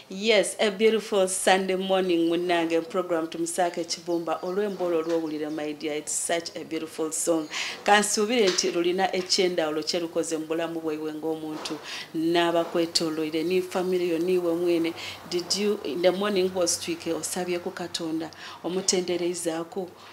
yes a beautiful sunday morning munange program tumusaako ekibumba olw'emboola olwowulira my dear its such a beautiful song kansuubire nti lulina ekyendawulo kyerukoze mu bulamu bwaiwe ng'omuntu n'abakwetoloire ni family yo niiwe mwene did you in the morning was twike osabye ku katonda omutendereizaako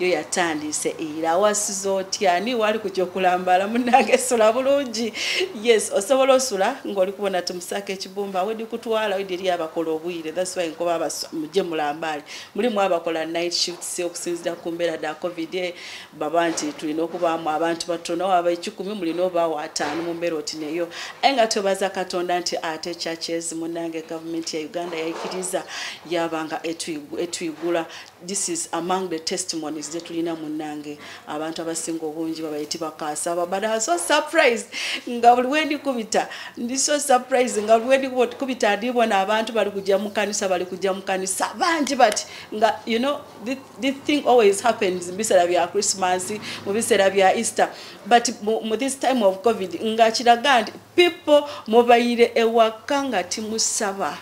yo yatandise era wasiza otya ani wali kujja okulambala munange sula bulungi yes osobola osula ng'oli kubona tumusaka ekibumba wedi kutwala wedi eri abakola obwire thats why nkoba muje mulambaale mulimu abakola night shifts okusinzira ku mbeera da covid e, baba nti tulina okubaamu abantu batono waba ekikumi mulina obaawo ataano mu mbeera oti neyo aye nga twebaza katonda nti ate churches munange gavumenti ya uganda yaikiriza yabanga etuyigula this is among the testimonies that we know munange abantu abasinga obungi babayiti bakaasa but I was so surprised nga buli wendi kubita ndi so surprised nga buli wendi kubita ndi bona abantu bali kujja mu kanisa bali kujja mu kanisa bangi but nga you know this, this thing always happens mu biseera bya Christmas mu biseera bya Easter but mu this time of covid nga kiraga nti people mubayire ewaka nga timusaba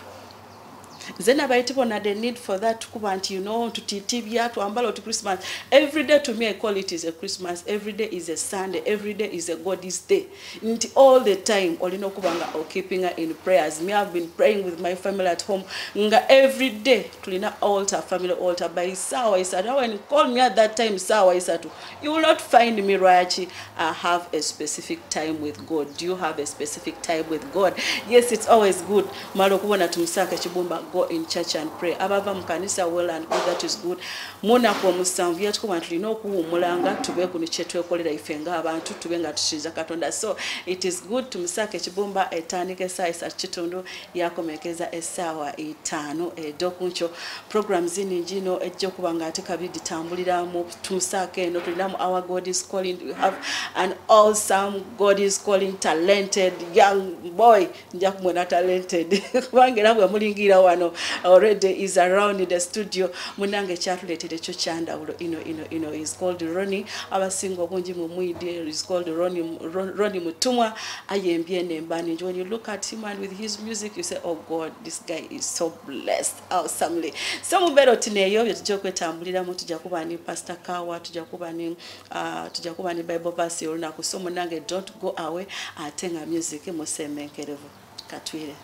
nze nabaiti bona the need for that kuba nti you know tutitibya twambala oti christmas every day to me i call it is a christmas every day is a sunday every day is a god's day nti all the time olina okuba nga okeeping her in prayers me have been praying with my family at home nga every day tulina alter family alter by sawa isatu awa call me at that time sawa isatu You will not find me Rachi. I have a specific time with God. Do you have a specific time with God? Yes, it's always good. Malo kubona tumusaka chibumba go in church and pray. Abava mukanisa well and good that is good. Mona kwa musanvu yatu kwa ntuli no kuhu mulanga tube kuni chetu ya kolera ifenga abantu tube nga tushiza katonda. So it is good tumusaka chibumba etani kesa isa chitundu ya kumekeza esawa itano. E, dokuncho program zini njino e, joku banga atika bidi tambulira mu tumusaako eno tulinamu our god is calling we have an awesome god is calling talented young boy nja kumwena talented kubanga era bwe mulingira wano already is around the studio munange ekyatuleetera ekyo kyandawulo ino ino ino is called roni abasinga obungi mu mwidi is called roni roni mutumwa ayembye nembani when you look at him and with his music you say oh god this guy is so blessed awesomely so mubeera oti neeyo bye tujja okwetambuliramu tujja kuba ni pastor kawa tujja kuba ni uh, tujja kuba ni bible verse olunaku so munange don't go away ate nga music musembenkerevu katwire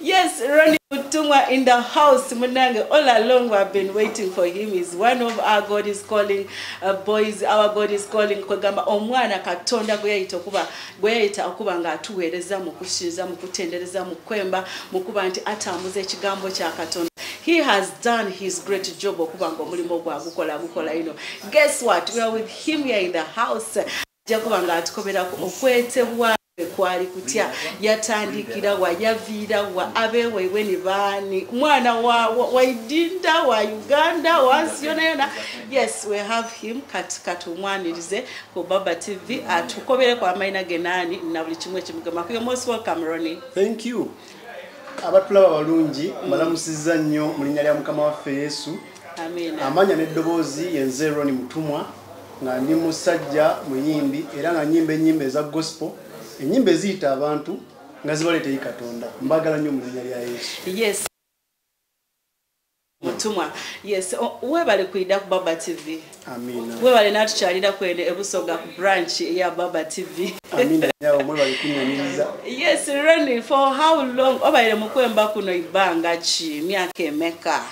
Yes, Ronnie Mutumwa in the house. Munange, all along we have been waiting for him. He's one of our God is calling uh, boys. Our God is calling. Kogamba, omwana katonda gwe yayita okuba bweyayita okuba nga atuweereza mu kusinza mu kutendereza mu kwemba mu kuba nti atambuza ekigambo kya katonda he has done his great job okuba nga omulimu ogwa gukola gukola ino guess what we are with him here in the house ajja kuba nga atukoberako okwetebwa kwali kutya yatandikira wa yaviira wa abeweibwe ni baani mwana wa waidinda wa uganda wansi yona yona yes we have him kati kati omwanirize ku baba tv atukobere kwa maina genani na buli kimwe kimugema kuyo most welcome ronnie thank you abatulaba balungi mm. malamusiza nnyo mu linnya lya mukama waffe yesu amanya n'eddoboozi yenze roni mutumwa nga ndi musajja muyimbi era nga nyimba enyimba eza gospel enyimba eziyita abantu nga zibaleeteyi katonda mbagala nnyo mu linnya lya yesu yes. mutumwa yes webale kuyida ku baba tv webale natukyalira kwene ebusoga ku branch ya baba tv yes reni for how long obaire mukwemba kuno ibanga ki myaka emeka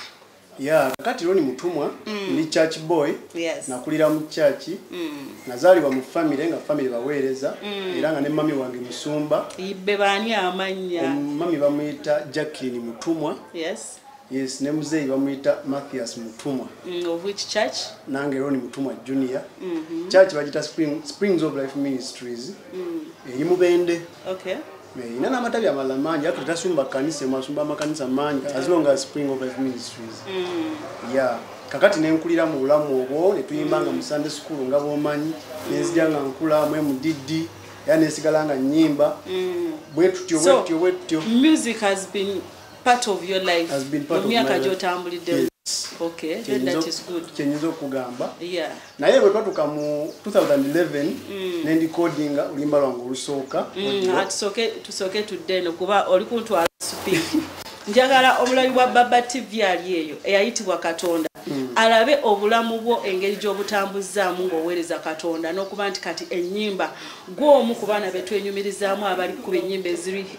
ya kakati roni mutumwa mm. ndi church boy yes. nakulira mu church mm. nazalibwa mu family nga family baweereza mm. era nga ne mami wange musumba ibe bani amanya mami bamuyita jacqueline mutumwa Yes. Yes, ne muzeeyi bamuyita Matthias Mutumwa. Mm, of which church? Nange Ronnie Mutumwa Junior. Mm -hmm. Church bagita Spring, Springs of Life Ministries. Mm. Eri mubende. Okay. Ina na matabi amala manji, hatu tasumba kanisa, masumba makanisa manji, yeah. as long as Spring of Life Ministries. Mm. Yeah. Kakati ne nkulira mu bulamu obwo, ne tuyimbanga mm. mu Sunday school nga bomanyi, mm. ne nzijanga nkula mwe mu diddi. era nesigala nga nyimba mm. bwetutyo bwetutyo bwetutyo music has been part of your life mu myaka gyotambulidde kyenyinza okugamba naye bwe twatuka mu 2011 mm. nendikodinga oluyimba lwange olusooka mm, ah, tusooke tudde eno kuba oli kuntwala supi njagala omulabi wa baba tv ali eyo eyayitibwa katonda mm. alabe obulamu bwo engeri gy'obutambuzzaamu ng'oweereza katonda n'okuba nti kati ennyimba gw'omu ku baana be twenyumirizaamu abali ku ennyimba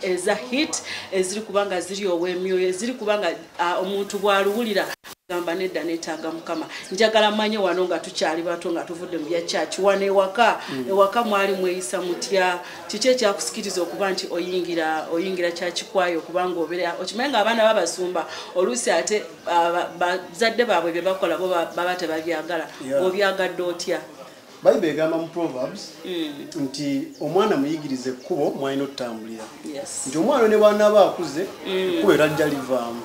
eza hit eziri kuba nga ziri ow'emyoyo eziri kuba nga omuntu bw'aluwulira gamba nedda netaaga mukama njagala manye wano nga tukyali bato nga tuvudde mu bya kyaki wano ewaka mm. ewaka mwali mweyisa mutya kiki ekyakusikiriza okuba nti oyingira oyingira kyakikwayo okubanga obeera okimanyi nga abaana babasumba oluusi ate bazadde baabwe bye bakola bo baba tebabyagala obyagadde otya bayibuli egamba mu proverbs mm. nti omwana muyigiriza ekkubo mwalina otutambulira nti omwana ne bwanaaba akuze mm. ekkubo era jja livaamu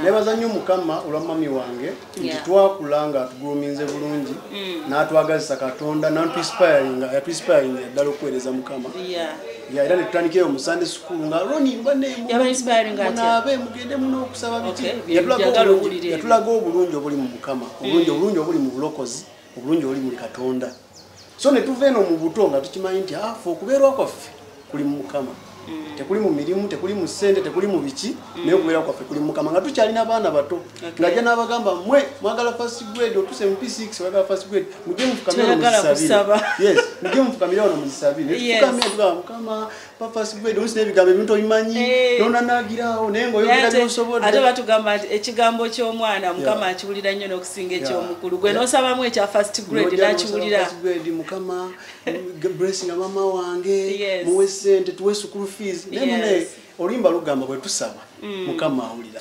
nebaza nnyo mukama olwa mami wange nti twakula nga atuguluminze bulungi mm. n'atwagazisa katonda nantuispiringa yatuispiringa ddala okuweereza mukama era netutandikira omu sunday school nga roni mbanemunaabe mugende muna okusaba biki yatulaga obulungi obuli mu mukama obulungi mm. obulungi obuli mu bulokozi obulungi oli muli katonda so ne tuva eno mu buto nga tukimanyi nti afe ah, okubeerwa kwaffe kuli mu mukama mm. tekuli mu mirimu tekuli mu ssente tekuli mu biki mm. naye okubeerwa kwaffe kuli mu mukama nga tukyalina abaana bato nga ajja n'abagamba mwe mwagala fast grade otuse mu p6 mwagala fast grade mujje mufukamire wano muzisabire mujje mufukamire wano muzisabire netufukamira tugamba mukama papa sigwede onsi n'ebigambo ebintu obimanyi eh. nona nagirawo naye ngaoyogera byosobodde ate batugamba nti ekigambo ky'omwana mukama akiwulira nnyo n'okusinga eky'omukulu gwe n'osabamu ekya first grade nakiwulira mukama blessing amama wange muwe sente tuwe sukulu fees naye mune olimba lugamba bwe tusaba mm. mukama awulira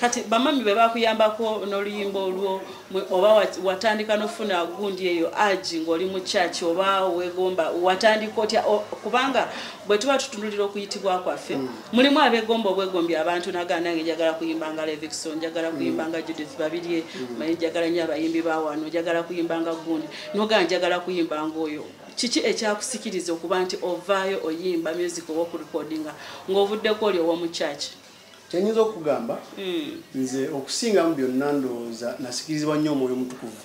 kati bamami be bakuyambako n'oluyimba olwo oba watandika n'ofuna gundi eyo agi ng'oli mu kyaki oba wegomba watandika otya kubanga bwe tuba tutunulira okuyitibwa kwaffe mm. mulimu abegomba obwegombi abantu nagaa nange njagala kuyimba nga levixon njagala kuyimba mm. nga judith babirye mm. maye njagala nyo abayimbi bawano njagala kuyimba nga gundi nogaa njagala kuyimba ngaoyo kiki ekyakusikiriza okuba nti ovaayo oyimba music oba okurekodinga ng'ovuddeko oli owomu kyaki kyenyinza okugamba hmm. nze okusingamu byonna ndowooza nasikirizibwa nnyo omwoyo omutukuvu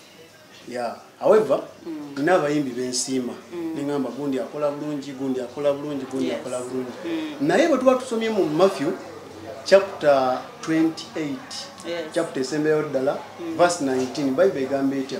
ya however hmm. nina abayimbi bensiima hmm. neŋamba gundi akola bulungi gundi akola bulungi gundi akola bulungi naye bwe tuba tusomye mu matthew chapter 28 chapter esembeyo ddala verse 19 bible egamba etya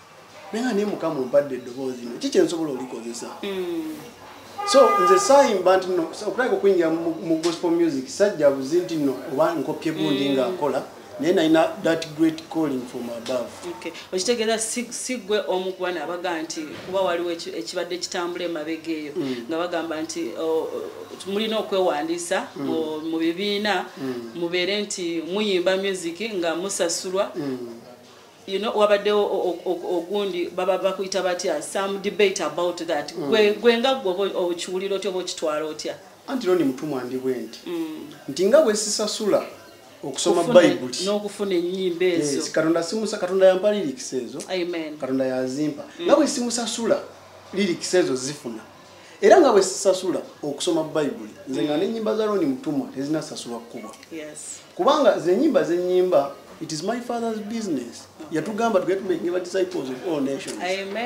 naye nga naye mukama ompadde eddoboozi no kiki ensobola olikozesa hmm. so nze sayimba nti no okulabika okuyingira mu gospel music sajja buzi nti no oba nkopye gundi hmm. nga nkola naye nalina that great calling from above okitegeera sigwe omu kuba nabaga nti kuba waliwo ekibadde kitambula emabega eyo hmm. nga bagamba nti mulina okwewandiisa mu bibiina mubeere nti muyimba music nga musasulwa you know wabaddewo ogundi baba bakuyita batya some debate about that mm. gwe gwe nga gwe okiwulira otya oba okitwala otya anti loni mutumwa ndi bwe nti mm. nti nga bwesisasula okusoma bayibuli n'okufuna ennyimba ezo yes, katonda simusa katonda yampa lirikisi ezo katonda yazimpa mm. nga bwesimusasula lirikisi ezo zifuna era nga bwe sisasula okusoma bayibuli nze nga nenyimba za roni mutumwa tezinasasulwa kukubwa kubanga zenyimba zenyimba it is my father's business yatugamba tugetumekinga disciples of all nations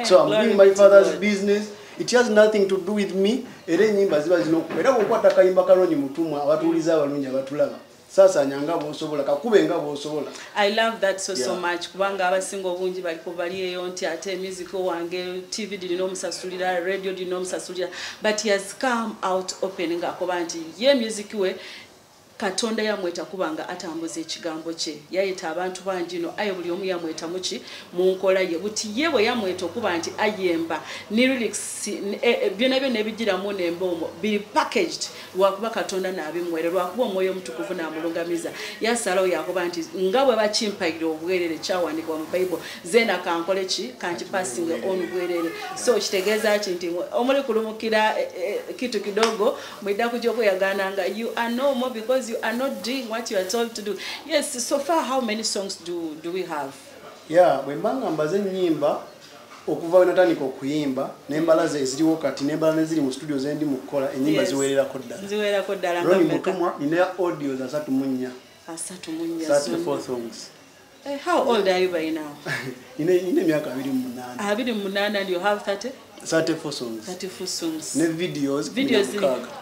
so am doing my father's business it has nothing to do with me era enyimba ziba zinokuba era kukwata kayimba ka roni mutumwa abatuuliza abalungi abatulaba sasanya nga bwosobola kakube nga bwosobola i love that so yeah. so much kubanga abasinga obungi bali kubali eyo nti ate music wange tv dirina omusasulira radio dirina omusasulira but he has come out open nga akoba nti ye music we katonda yamweta kubanga atambuza ekigambo kye yayeta abantu bangi no aye buli omu yamweta muki mu nkola ye buti ye bwe yamweta okuba nti ayemba ne lyrics eh, eh, byona byona ebijiramu nemba omwo biri packaged lwakuba katonda nabimwere lwakuba omwoyo omutukuvu namulungamiza yasalawo yakuba nti nga bwe bakimpayira obwerere kyawandikibwa mu bible zena kankole ki kanti passing on bwerere so kitegeeza ki nti omuli kulumukira eh, eh, kitu kidogo mwidda kuja okweyagana nga you are no more because you are not doing what you are told to do yes so far how many songs do, do we have yeah bwembanga mbaze enyimba okuva we natandika okuyimba nembala ze eziriwo kati nembala neziri mu studio zendi mu kukola enyimba ziwererako ddala roni mutumwa nina audios asatu mu nnya eh, How old are you by now? Ine ine miaka 28. 28 and you have 30? 34 songs. 34 songs. Ne videos 16.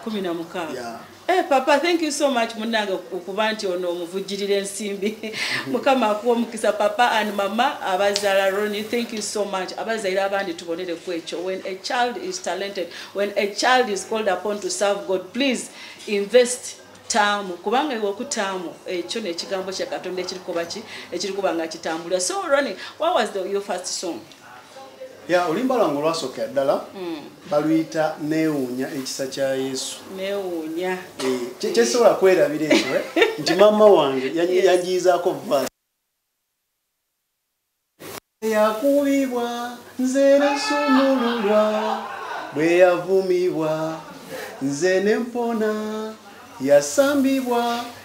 16. Yeah. Hey, eh, papa thank you so much munange okuba nti ono omuvujjirira ensimbi mukama akuwa omukisa papa and mama abazala roni thank you so much abazalira abandi tubonere ku ekyo when a child is talented when a child is called upon to serve god please invest taamu kubanga iwe okutaamu ekyo nekigambo kyakatonda ekirikuba ki ekirikuba nga kitambulira so roni what was the, your first song ya oluyimba lwange olwasookera ddala hmm. baluyita neewuunya ekisa kya yesu neewuunya eh, kyesobola kwerabira ekyo eh? nti maama wange yanjiyizaako vas yakubibwa nze nesumululwa bwe yavumibwa nze nempona yasambibwa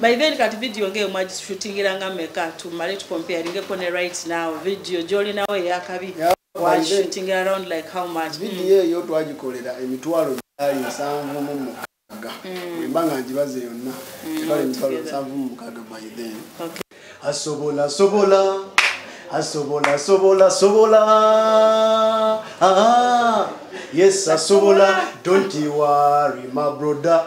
by then kati video ngeyo mwagishootingira nga meka tumale tukomparingeko ne right now video gyolinawo eyakabi wagishootingira around like how much video eyo twagikolera emitwalo gyali nsanvu mu mukaga mm. emba nga ngibaze yonna mm, ebala emitwalo nsanvu mu mukaga by then asobola sobola asobola sobola sobola ah, yes asobola don't you worry my brother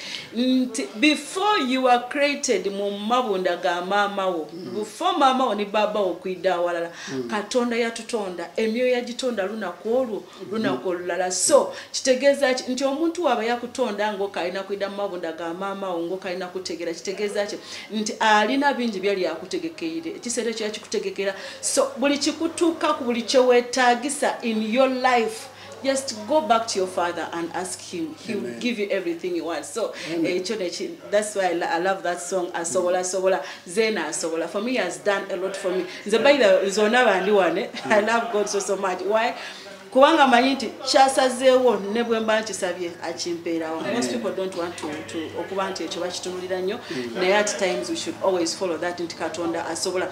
nti before you are created mu mabunda ga maama wo mm. before maama wo ne baaba wo kwidda awalala mm. katonda yatutonda emyoyo yagitonda lunaku olwo mm. lunaku olulala so kitegeeza ki nti omuntu waaba yakutonda ngaokalina kwidda mu mabunda ga maama wo ngaokalina kutegeera kitegeeza ki nti alina bingi byali akutegekeire ekiseera ekyo yakikutegekera so buli kikutuukaku buli kyewetaagisa in your life just go back to your father and ask him he Amen. will give you everything you want so ekyo eh, neki that's why I, i love that song asobola sobola zena asobola for me has done a lot for me nze by the zona bandi wane i love god so so much why kubanga manyi nti kyasazeewo ne bwe mba nkisabye akimpeerawo most people don't want to, to okuba nti ekyo bakitunulira nnyo mm. naye at times we should always follow that nti katonda asobola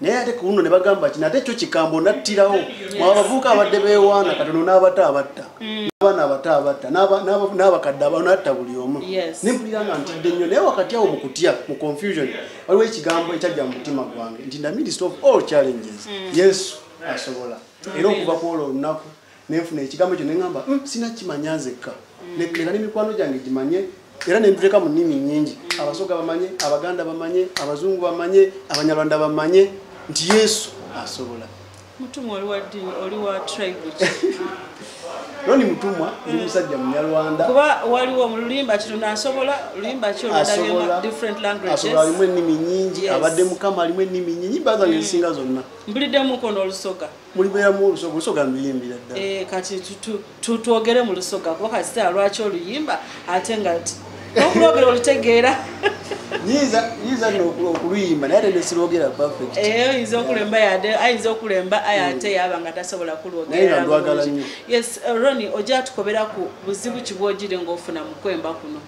naye ate ku luno ne bagamba ki nate kyo kikambo nattirawo mwaba bavuuka abadde bewaana katono n'abato abatta mm. n'abaana abato abatta n'abakadde abanatta buli omu nempulira nga ntidde nnyo naye wakati awo mu kutya mu confusion waliwo ekigambo ekyajja mu mutima gwange nti the minister of all challenges mm. yesu asobola era okuva ku olwo olunaku nenfuna ekigambo ekyo neŋamba mm, sina kimanya nzekka mm. leka ne mikwano gyange gimanye era nentuteka mu nnimi nyingi mm. abasoga bamanye abaganda bamanye abazungu bamanye abanyarwanda bamanye nti yesu asobola mutumwa oli wa ddini oli wa tribe noni mutumwa ndi musajja munyarwanda kuba waliwo mu lulimba kino nasobola lulimba ki oludaliodifferent languagesasobola alimu ennimi nyingi abadde mukama alimu ennimi nyingi baza ngezisinga zonna mbuliddemu kono olusoga mm. mulibeeramu olusoga olusoga luyimbira ddala eh, kati twogere mu lusoga kuba kasita lwaki oluyimba ate nga okulwogera olutegeera yinza no okuluyimba naye tenesilwogera perfect eh, oyinza okulemba yade ayinza okulemba aye hmm. ate yaba nga tasobola kulwogerayes eh, roni ojja tukobera ku buzibu kibwogire ngaofuna mukwemba kuno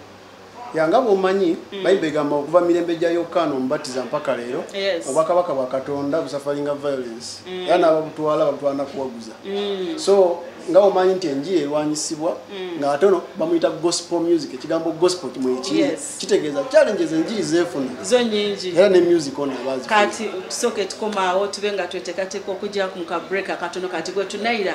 yanga bwomanyi mm. bayibuli egamba okuva mirembe gya yokaana omubatiza mpaka leero obwakabaka bwa katonda busafalinga violence mm. era naababutwala babutwala nakuwaguza mm. so nga omanyi nti enjiri erwanyisibwa nga ate ono bamuyita gospel music ekigambo gospel kimwekiri kitegeeza challenges enjiri zeefuna era ne music ono abazikati tusooke tukomaawo tube nga twetekateeka okujja ku mukabreak akatono kati gwetunayira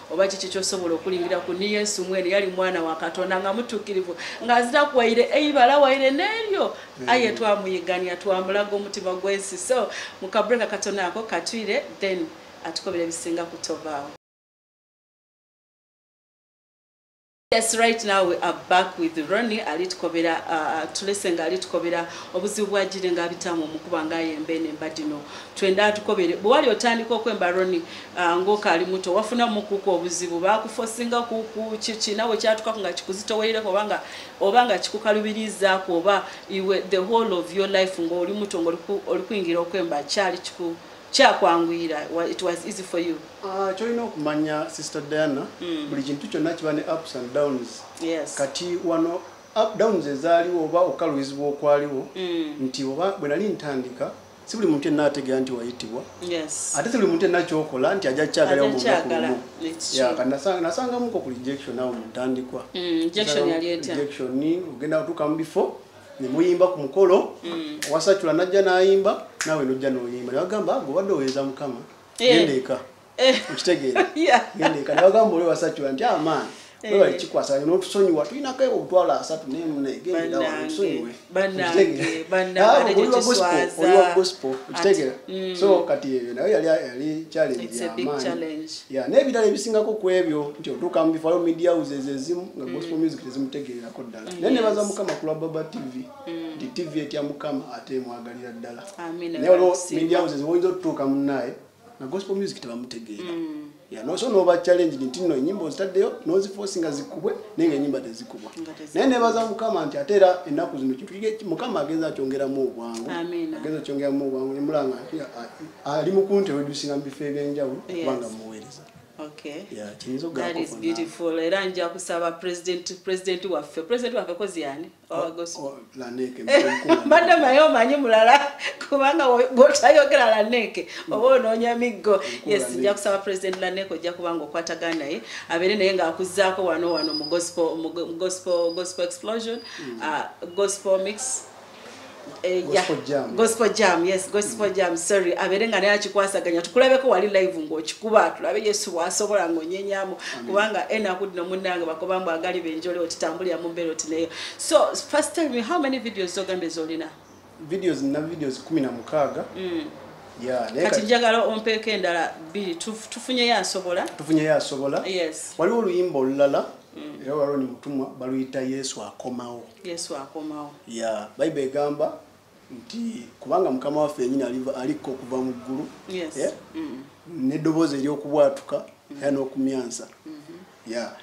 oba kiki kyosobola okulingira ku ni yesu mwene yali mwana wa katonda nga mutukirivu nga azira kuwaire eibala waire neryo mm. aye twamuyigania twamulaga omutima gwensi so mukabreka katonda ako katwire then atukobera ebisinga kutovaawo Yes, right now we are back with Ronnie ali tukobera uh, uh tulese nga ali tukobera obuzibu bwa jire nga bitamu mukuba nga yembe ne mbadino twenda atukobere bwali otandika okwemba Ronnie uh, ngoka ali muto wafuna mukuku obuzibu bakufosinga kuku chichi nawe kyatuka nga kikuzito weire obanga obanga kikukalubiriza ko oba iwe the whole of your life ngo oli muto ngo oli kuingira okwemba chali chiku kyakwangwira it was easy for you Ah, kyolina okumanya sister diana mm. buli kintu kyonna kiba ne ups and downs yes. kati wano up downs ezaaliwo oba okukalubizibwa okwaliwo mm. nti oba bwe nali ntandika si buli muntu enna ategera nti wayitibwa yes. ate si buli muntu enna kyokola nti ajja kyagalao mulumu nasangamuko ku rejection awo mutandikwa mm, ogenda kutuuka mu bifo nemuyimba ku mukolo mm. owasacula najja nayimba nawe nojja noyimba nebagamba gobadde oweza mukama eh. genda eka eh. okitegeera genda eka nebagamba oli wasacula nti amaani ah, webali eh. kikwasa notusonyiwa tulinako ebo obutwalo asatu nemunegendatusonyiwe okitegeera mm. so kati ebyo nayo yali yali challenge yamaani n'ebirala ebisingako ku ebyo nti otuuka mu bifalo media houses ezimu nga gospel mm. music tezimutegeererako ddala naye nebaza mukama kulwa baba tv mm. nti tv etya mukama ate emwagalira ddala naye olwo media houses woyinza otutuuka munaaye na gospel music tebamutegeera mm. yanoso noba challenge nti no enyimba ozitaddeyo nozifosi nga zikubwe naye nga enyimba tezikubwa naye nebaza mukama nti ate era ennaku zino kintu mukama agenza akyongeramu obwangu agenza akyongeramu obwangu nemulanga ali mukunti wedusinga mu bifo ebyenjawulo kubanga muweereza era nja kusaba president waffe president waffe kozi yani mbadde maye omanyi mulala kubanga gotayogera laneeke oba onoonya miggo yes nja kusaba president laneeke ojja kubanga okwataga naye abeere naye ng'akuzaako wano wano mu gospel explosion mm. uh, gospel mix Eh, gospel jam yes gospel jam sorry abeere nga naye akikwasaganya tukulabeko wali live ngaokikuba tulabe yesu bwasobola ngaonyenyamu kubanga enaku dino munange bakoba mbu agali benjole otitambulira mu mbeera oti nayo so first time me how many videos zogambye zolina videos na videos kumi na mukaaga mm. kati njagala ompeeko endala biri tufunyeyo asobola tufunyeyo asobola yes waliwo oluyimba olulala mm. era waloni mutumwa baluyita yesu akomawo yesu akomawo ya bayibuli egamba nti kubanga mukama waffe yenyini alikko okuva mu ggulu eh? mm. neddoboozi eryokubwatuka mm. era n'okumyansa mm-hmm. ya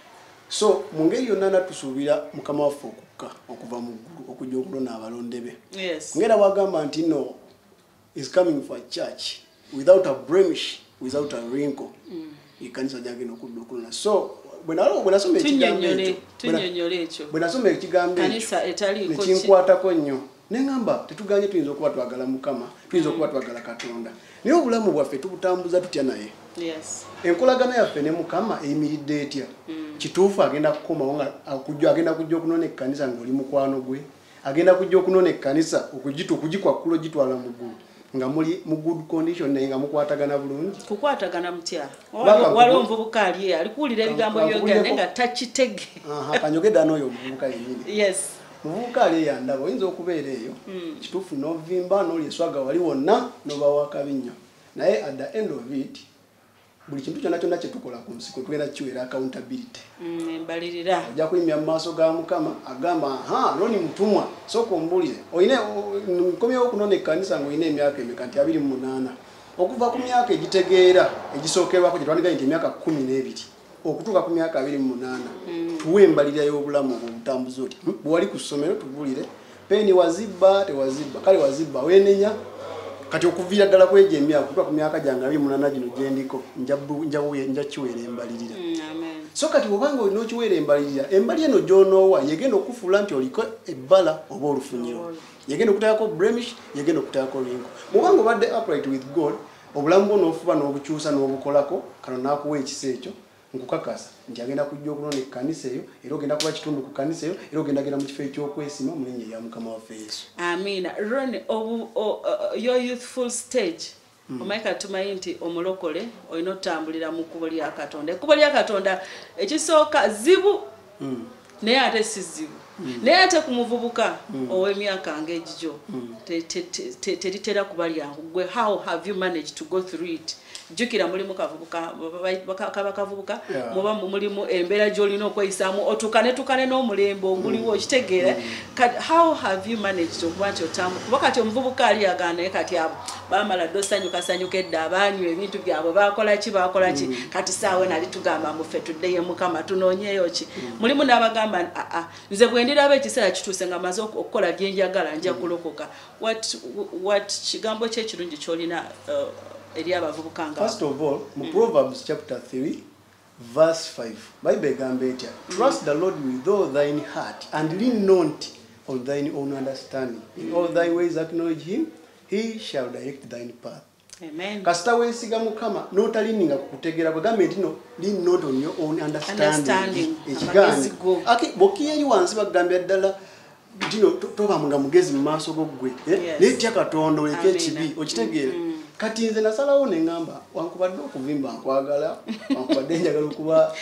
so mu ngeri yonna na tusuubira mukama waffe okukka okuva mu ggulu okujja okulona abalonde be ngaera bwagamba nti no is coming for a church without a blemish without a wrinkle mm. ekanisa jagenda okudda okulona so bwenasoma ekigambo ekinkwatako nnyo neŋamba tetuganye tuyinza okuba twagala mukama tuyinza okuba twagala katonda naye obulamu bwaffe tubutambuza tutya naye enkolagana yaffe ne mukama eyimiridde etya mm. kituufu agenda kukomawo nga agenda kujja okunona ekkanisa ngaoli mukwano gwe agenda kujja okunona ekkanisa okugitu okugikwakkula ogitwala mu ggulu nga muli mu good condition naye nga mukwatagana bulungi kukwatagana mutya waliwo omuvubuka ali ali kuwulira ebigambo byogera naye nga takitege kanyogedda n'oyo omuvubuka yenyini yes muvubuka ali eyandaba oyinza okubeera eyo hmm. kituufu novimba noli eswaga wali wonna nobawa kabi nnyo naye at the end of it buli kintu kyonna kyonna kyetukola ku nsi kwetugenda kiweera accountability mm, embalirira ojja kuyimya mu maaso ga mukama agamba ha loni mutumwa sooka ombulire olina nkomyewo okunona ekkanisa nga olina emyaka emeka nti abiri mu munaana okuva ku myaka egitegeera egisookerwako gyetwandigaye nti emyaka kumi n'ebiri okutuuka ku myaka abiri mu munaana mm. tuwa embalirira y'obulamu obwo obutambuzi oti hmm, bwewali ku ssomero tubulire Peni wazibba tewazibba kale wazibba wenenya kati okuviira ddala kwejo emyaka kutuka ku myaka gyange abiri munana gino gyendiko nja kiweera embalirira mm, so kati obanga olina okiweera embalirira embali eno gyonoowa yegenda okufuula nti oliko ebbala oba olufunyiro yegenda okuteekako bremish yegenda okuteekako ringo mubanga obadde upright with god obulamu bwo nofuba nobukyusa nobukolako kano nakuwa ekisa ekyo nkukakasa nti agenda kujja okulonda ekkanisa eyo era ogenda kuba kitundu ku kkanisa eyo era ogenda genda mu kifo ekyokwesima mu linnya erya mukama waffe yesu amiina ron your youthful stage hmm. omanyi kati tumanyi nti omulokole olina otutambulira mu kkubo lya katonda ekkubo lya katonda ekisooka zibu hmm. naye ate sizibu mm. naye ate ku muvubuka mm. ow'emyaka ng'egijo mm. teritera kuba lyangu gwe how have you managed to go through it jjukira mulimu kavubuka kaba kavubuka muba mulimu embeera gy'olina okweyisaamu otukane tukane n'omulembe oguliwo mm. okitegeera mm. how have you managed okuba nti otambu kuba kati omuvubuka ali agaanaye kati abo bamala dda osanyukasanyuka edda abaanywa ebintu byabwe bakola ki bakola ki mm. kati saawe nali tugamba mufe tuddeyo mukama tunoonyeyo ki mm. mulimu n'abagamba aa nze bwe ndiraba ekiseera kituuse nga maze okukola bye njagala nja mm. kulokoka wat kigambo kye ekirungi kyolina uh, eri abavubuka nga mu proverbs chapter 3 Verse 5 Bible egamba etya? Trust the Lord with all thine heart and lean not on thine own understanding. In all thy ways acknowledge him, he shall direct thine path. Amen. Kasita wesiga mukama notalininga kukutegera bwegambe nti no lean not on your own understanding. Ekigambo. Bokiyeyi wansi bagambya ddala tino toba nga mugezi mu maaso go ggwe eh? naye tya katonda oleka ekibi okitegeere mm. kati nze nasalawo nengamba wankubadde okuvimba nkwagala wankubadde njagala okuba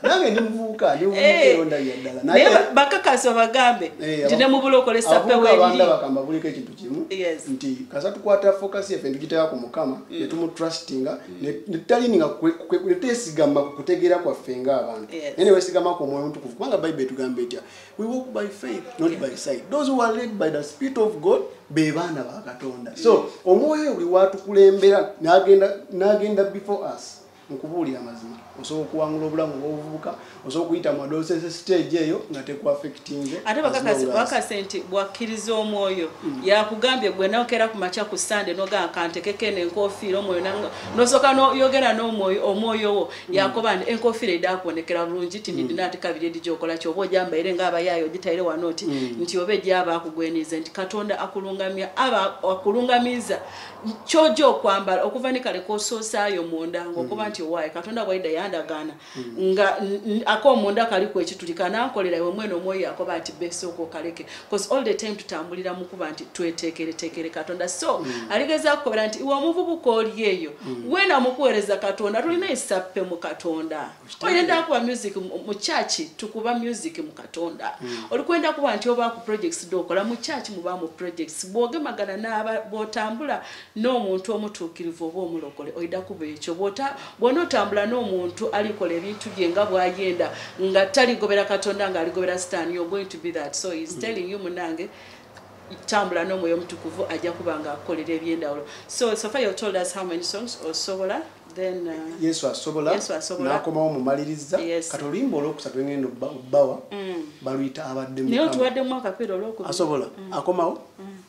nange ndi muvubuka ndimuvubukaebakakasi eh. bagambe eh, nti nemubula okola esapeabandabakamba buliko ekintu kimu nti kasa tukwata fokasi yaffe ndigiteka ku mukama mm. netumutrustinga netutaliini nga twesigama ku kutegeera kwaffe ngaabantu naye newesigamako omwoyo mutukuvu kubanga bayibuli etugamba etya we walk by faith not by sight those who are led by the spirit of god be baana ba katonda so omwoyo buli watukulembera n'agenda before us mukubuulira amazima osobola okuwangula obulamu obwobuvubuka osobola okuyita mu adolescence stage eyo nga tekuafectinge ate bakakase nti bwakkiriza omwoyo mm. yakugambye gwe nokera ku makya ku sande nogamba kantekeke nenkofiira omwoyo nosooka noyogera nomwoyo omwoyo wo mm. yakoba nti enkofiira edakuonekera bulungi ti nidina mm. ati kabiri edi gyokola kyoba ojambaire nga abayaayo ogitaire wano ti nti oba egyaba akugweniize nti katonda akulungamya aba akulungamiza kyoja okwambala okuva nikale kosoosaayo munda ngaokuba nti owaaye katonda bwaida yandagaana Mm. nga akomunda kali ku ekitulika nankolera iwe mwene omwoyo yakoba nti besooka okaleke bcause all the time tutambulira mu kuba nti tweteekereteekere katonda so mm. aligeza kukobera nti iwe omuvubuka oli eyo mm. wena mukuweereza katonda tulina esappe mu katonda oyenda kuba music mu chaki tukuba music mu katonda olikwenda kuba nti oba ku projects dokola mu chaki muba mu projects bwogemagana naaba bwotambula n'omuntu omutuukirivu oba omulokole oida kuba ekyo bwota bwona otambula n'omuntu alikola ebintu bye nga bwayenda nga taligobera katonda nga aligobera sitaani you're going to be that so he's mm. telling you munange tambula n'omwoyo omutukuvu ajja kuba nga akukolera ebyendawulo so sofa you told us how many songs osobola then uh, yesu asobola yesu asobola nakomawo mumaliriza yes. kati oluyimba olwokusatu engendo bawa mm. baluyita abadde naye otuwadde mwaka pera olwokubi asobola mm. akomawo mm.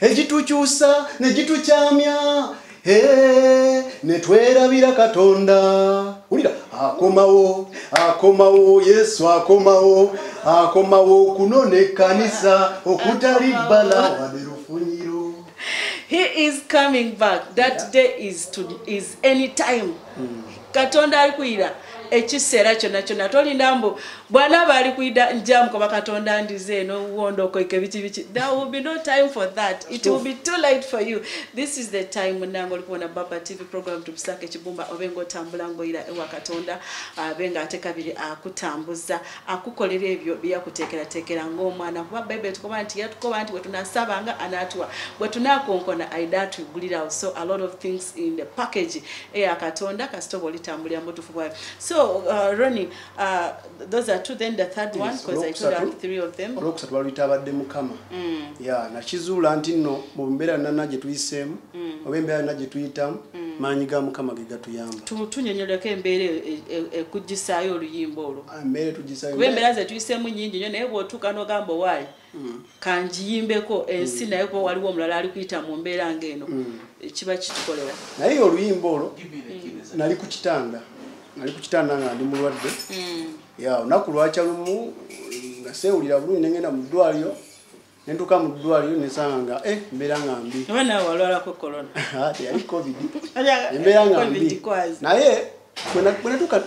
egitukyusa ne gitukyamya eh, ne twerabira katonda wulira akomawo akomawo yesu akomawo akomawo okunona ekkanisa okutali bbala wade lufunyiro he is coming back that yeah. day is, to, is any time mm. katonda alikuyira ekiseera kyonna kyonna tolinda mbu bwanaaba alikuyida njamukoba katonda ndize eno wondo okoike biki biki there will be no time for that it will be too late for you this is the time munange olikuwona baba tv program tukusaka ekibumba obe nga otambula ngaoyira ewa katonda abe nga ate kabiri akutambuza akukolera ebyo byeyakuteekerateekera ngaomwana kuba bayibuli tukoba nti yatukoba nti bwetunasaba nga anatuwa bwetunakonkona aida atugulirawo so a lot of things in the package eya katonda kasita oba olitambulira mubutufu bwayo so uh, roni uh, those are two then the third yes, one because i told out three of them olwokusatu balwitabadde mukama mm. ya nakizuula nti nno mu mbeera nana gye tuyiseemu mm. oba embeera nana gye tuyitamu mm. maanyi ga mukama ge gatuyamba tunyonyoleko embeera e, e, e, ekugisaayo oluyimba olwo ah, embeera etugisaayo kuba embeera ze tuyiseemu nyingi nyo naye bwotuuka nogamba owaayi mm. kanjiyimbeko ensi mm. naye kuba waliwo omulala ali kuyita mu mbeera ngaeno mm. kiba kitukolera naye oluyimba olwo nali ku kitanda nali ku kitanda nga ndi mulwadde ya olunaku lwakya lumu nga seewulira bulungi nengenda mu ddwaliro nentuka mu ddwaliro nesanga nga e mbeera nga mbi ah, teyali covid embeera nga mbi naye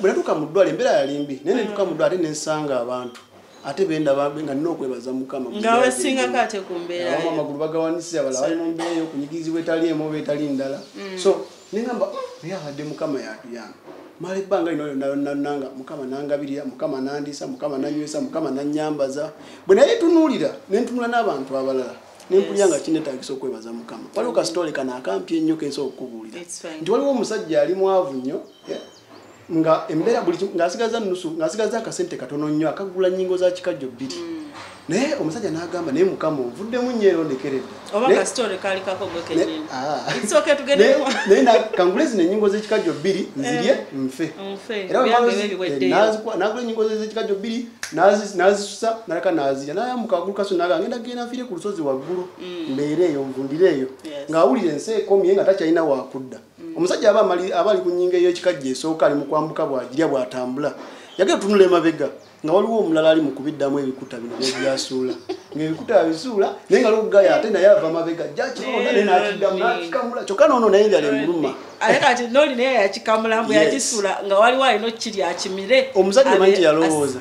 bwenatuka mu ddwaliro embeera yali mbi naye nentuka mu ddwaliro ate nensanga abantu ate benda bambe nga nina okwebaza mukama nga wesinga kate ku mbeera abamu amagulu bagawanise abala bali mu mbeera yokunyigirizibwa etali emu oba etali ndala mm. so nengamba mm, naye abadde mukama yatuyamba mala ebbanga lino lyonalonananga mukama nangabirira mukama nandiisa mukama nanywesa mukama nanyambaza bwe naye tunuulira nentunula n'abantu abalala nempulira nga kinetagisa okwebaza mukama waliwo kasitole kano akampi ennyo kensobola okukubuulira nti waliwo omusajja ali mwavu nnyo nga embeera buli ng'asigaza nusu ng'asigaza akasente katono nnyo akagula nnyingo za kikajjo bbiri hmm. naye omusajja n'agamba naye mukama ovuddemu nnyo era ondekeredde kangule zino ennyingo z'ekikajjo bbiri nzirye eh, nfe eranagula eh, ennyingo z'ekikajjo bbiri n'azisusa naleka n'azirya nayamuka agulu kaso naga ngenda genda nfiire ku lusozi waggulu hmm. mbeera eyo nvundire eyo ng'awulira ensi ekomye nga takyalina wakudda mm. mm. omusajja aba amali aba ali ku nyinga ey'ekikajja esooka ali mu kwambuka bw'agirya bw'atambula yagenda tunula emabega nga waliwo omulala ali mu kubiddamu ebikuta bino byebyasuula ngaebikuta abisuula naye nga logaya ate naye ava mabega jakiakidamu nakikamula kyokka noono naye njala emuluma omuzadde manti yalowooza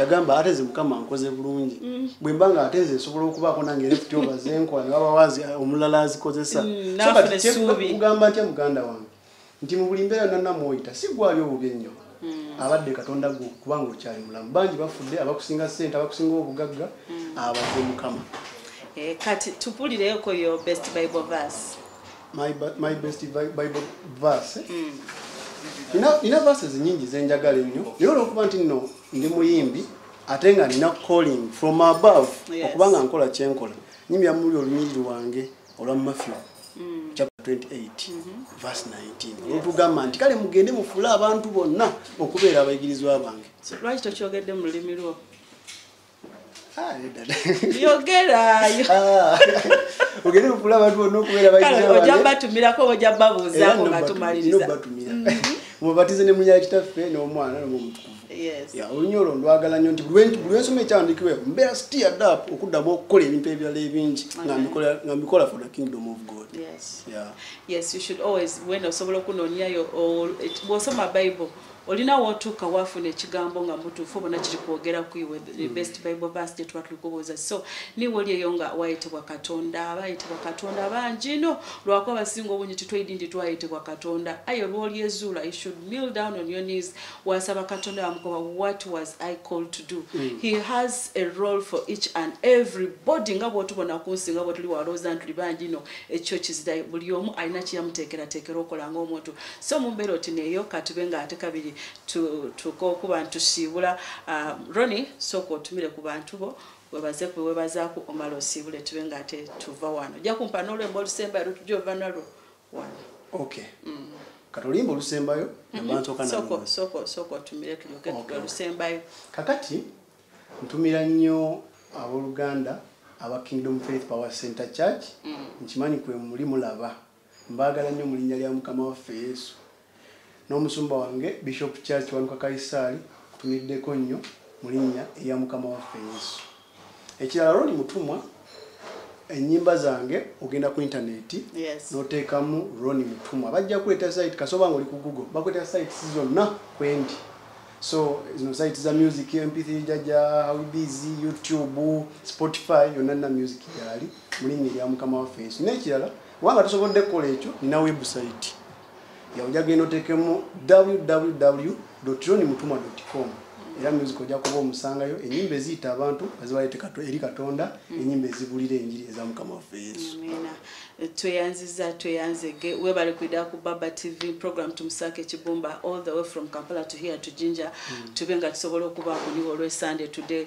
yagamba ate ze mukama nkoze bulungi bwe mba nga ate nze nsobola okubaako nange left over zenkola ne baba wazi eh, omulala azikozesa mm, kugamba ntya muganda wange nti mu buli mbeera yonna namwoyita si gwali obubi ennyo mm. abadde katonda gwe kubanga okyali mulamu bangi bafudde abakusinga ssente abakusinga obugagga mm. abadde mukama eh, kati tupulireko yo best bible verse my, my best bible verse eh? mm. nina verses nyingi zenjagala ennyo naye olwokuba nti nno ndi muyimbi ate nga nina calling from above okuba nga nkola kyenkola nyimira muli olunyiriri wange olwa mafyo mm. chapter 28 mm-hmm. verse 19 olwotugamba nti kale mugende mufuule abantu bonna okubeera abayigirizwa bange lwaki tokyogedde mu lulimi lwo ah, yogerayo ah. ogende mufuule abantu bonna okubeera abayigirizwaoja batumirako oja babuuzaako nga tumaliriza mm-hmm. mubatize ne munya kitaffe n'omwana nomumutukuvu olunya olwo ndwagala nyo nti bulwensoma ekyandikibwe mbeera stiyad up okuddamu okukola ebintu ebirala ebingi nga mbikola for the kingdom of god osobola okunonyayo bwosoma bible olina wotuuka wafuna ekigambo nga mutuufu bona kiri kwogera kuiwe the mm. best bible verse gyetuba tuli kubuuza so niwe oli eyo nga wayitibwa katonda abayitibwa katonda bangi no lwakuba basinga obungi titwaidi nti twayitibwa katonda aye olwolyezuula you should kneel down on your knees wasaba katonda wamugoba what was i called to do mm. he has a role for each and every body nga bwotubona kunsi nga bwetuli walooza ntuli bangi no ekyo kizira buli omu alina kiyamuteekerateekera okola nga omuntu so mumbeera oti neyo katube nga ate kabiri tukokuba ntusiibula um, roni sooka otumire ku bantu bo webaze kwe webazaku omala osiibule tube nga ate tuva wano ojja kumpa nolwemba olusembayo lutujja ova nalwo okay mm. kati oluyimba olusembayo namansookasoka otumire tuyoke olusembayo kakati ntumira nnyo abooluganda aba kingdom faith power center church mm. nkimanyi kwe muli mulaba mbaagala nnyo mu linnya lya mukama waffe yesu N'omusumba wange Bishop Church Wanuka Kayisaali nkutumiddeko nnyo mu linnya erya Mukama waffe Yesu. Ekirala Ronnie Mutumwa ennyimba zange ogenda ku intaneeti n'oteekamu Ronnie Mutumwa bajja kuleeta site kasoba nga oli ku Google bakuleeta sites zonna kwendi. So zino site za music MP3 jaja how busy YouTube Spotify yonna na music gyali mu linnya erya Mukama waffe Yesu. N'ekirala wanga tusobodde kukola ekyo nina website. yawuja genda otekemu www roni mutuma com era music ojja kuba omusangayo enyimba eziyita abantu azibalete eri katonda mm. enyimba ezibulira enjiri eza mukama waffe yesu tweyanziza tweyanzege webale kwida ku baba tv program tumusaka ekibumba all the way from kampala to here to ginger mm. tube nga tusobola okubakuliwo olwesande today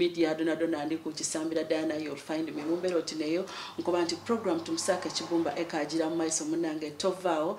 media dona dona ndi ku kisambira dana you'll find me mumbero tineyo nkuba nti program tumusaka kibumba eka ajira maiso munange tovao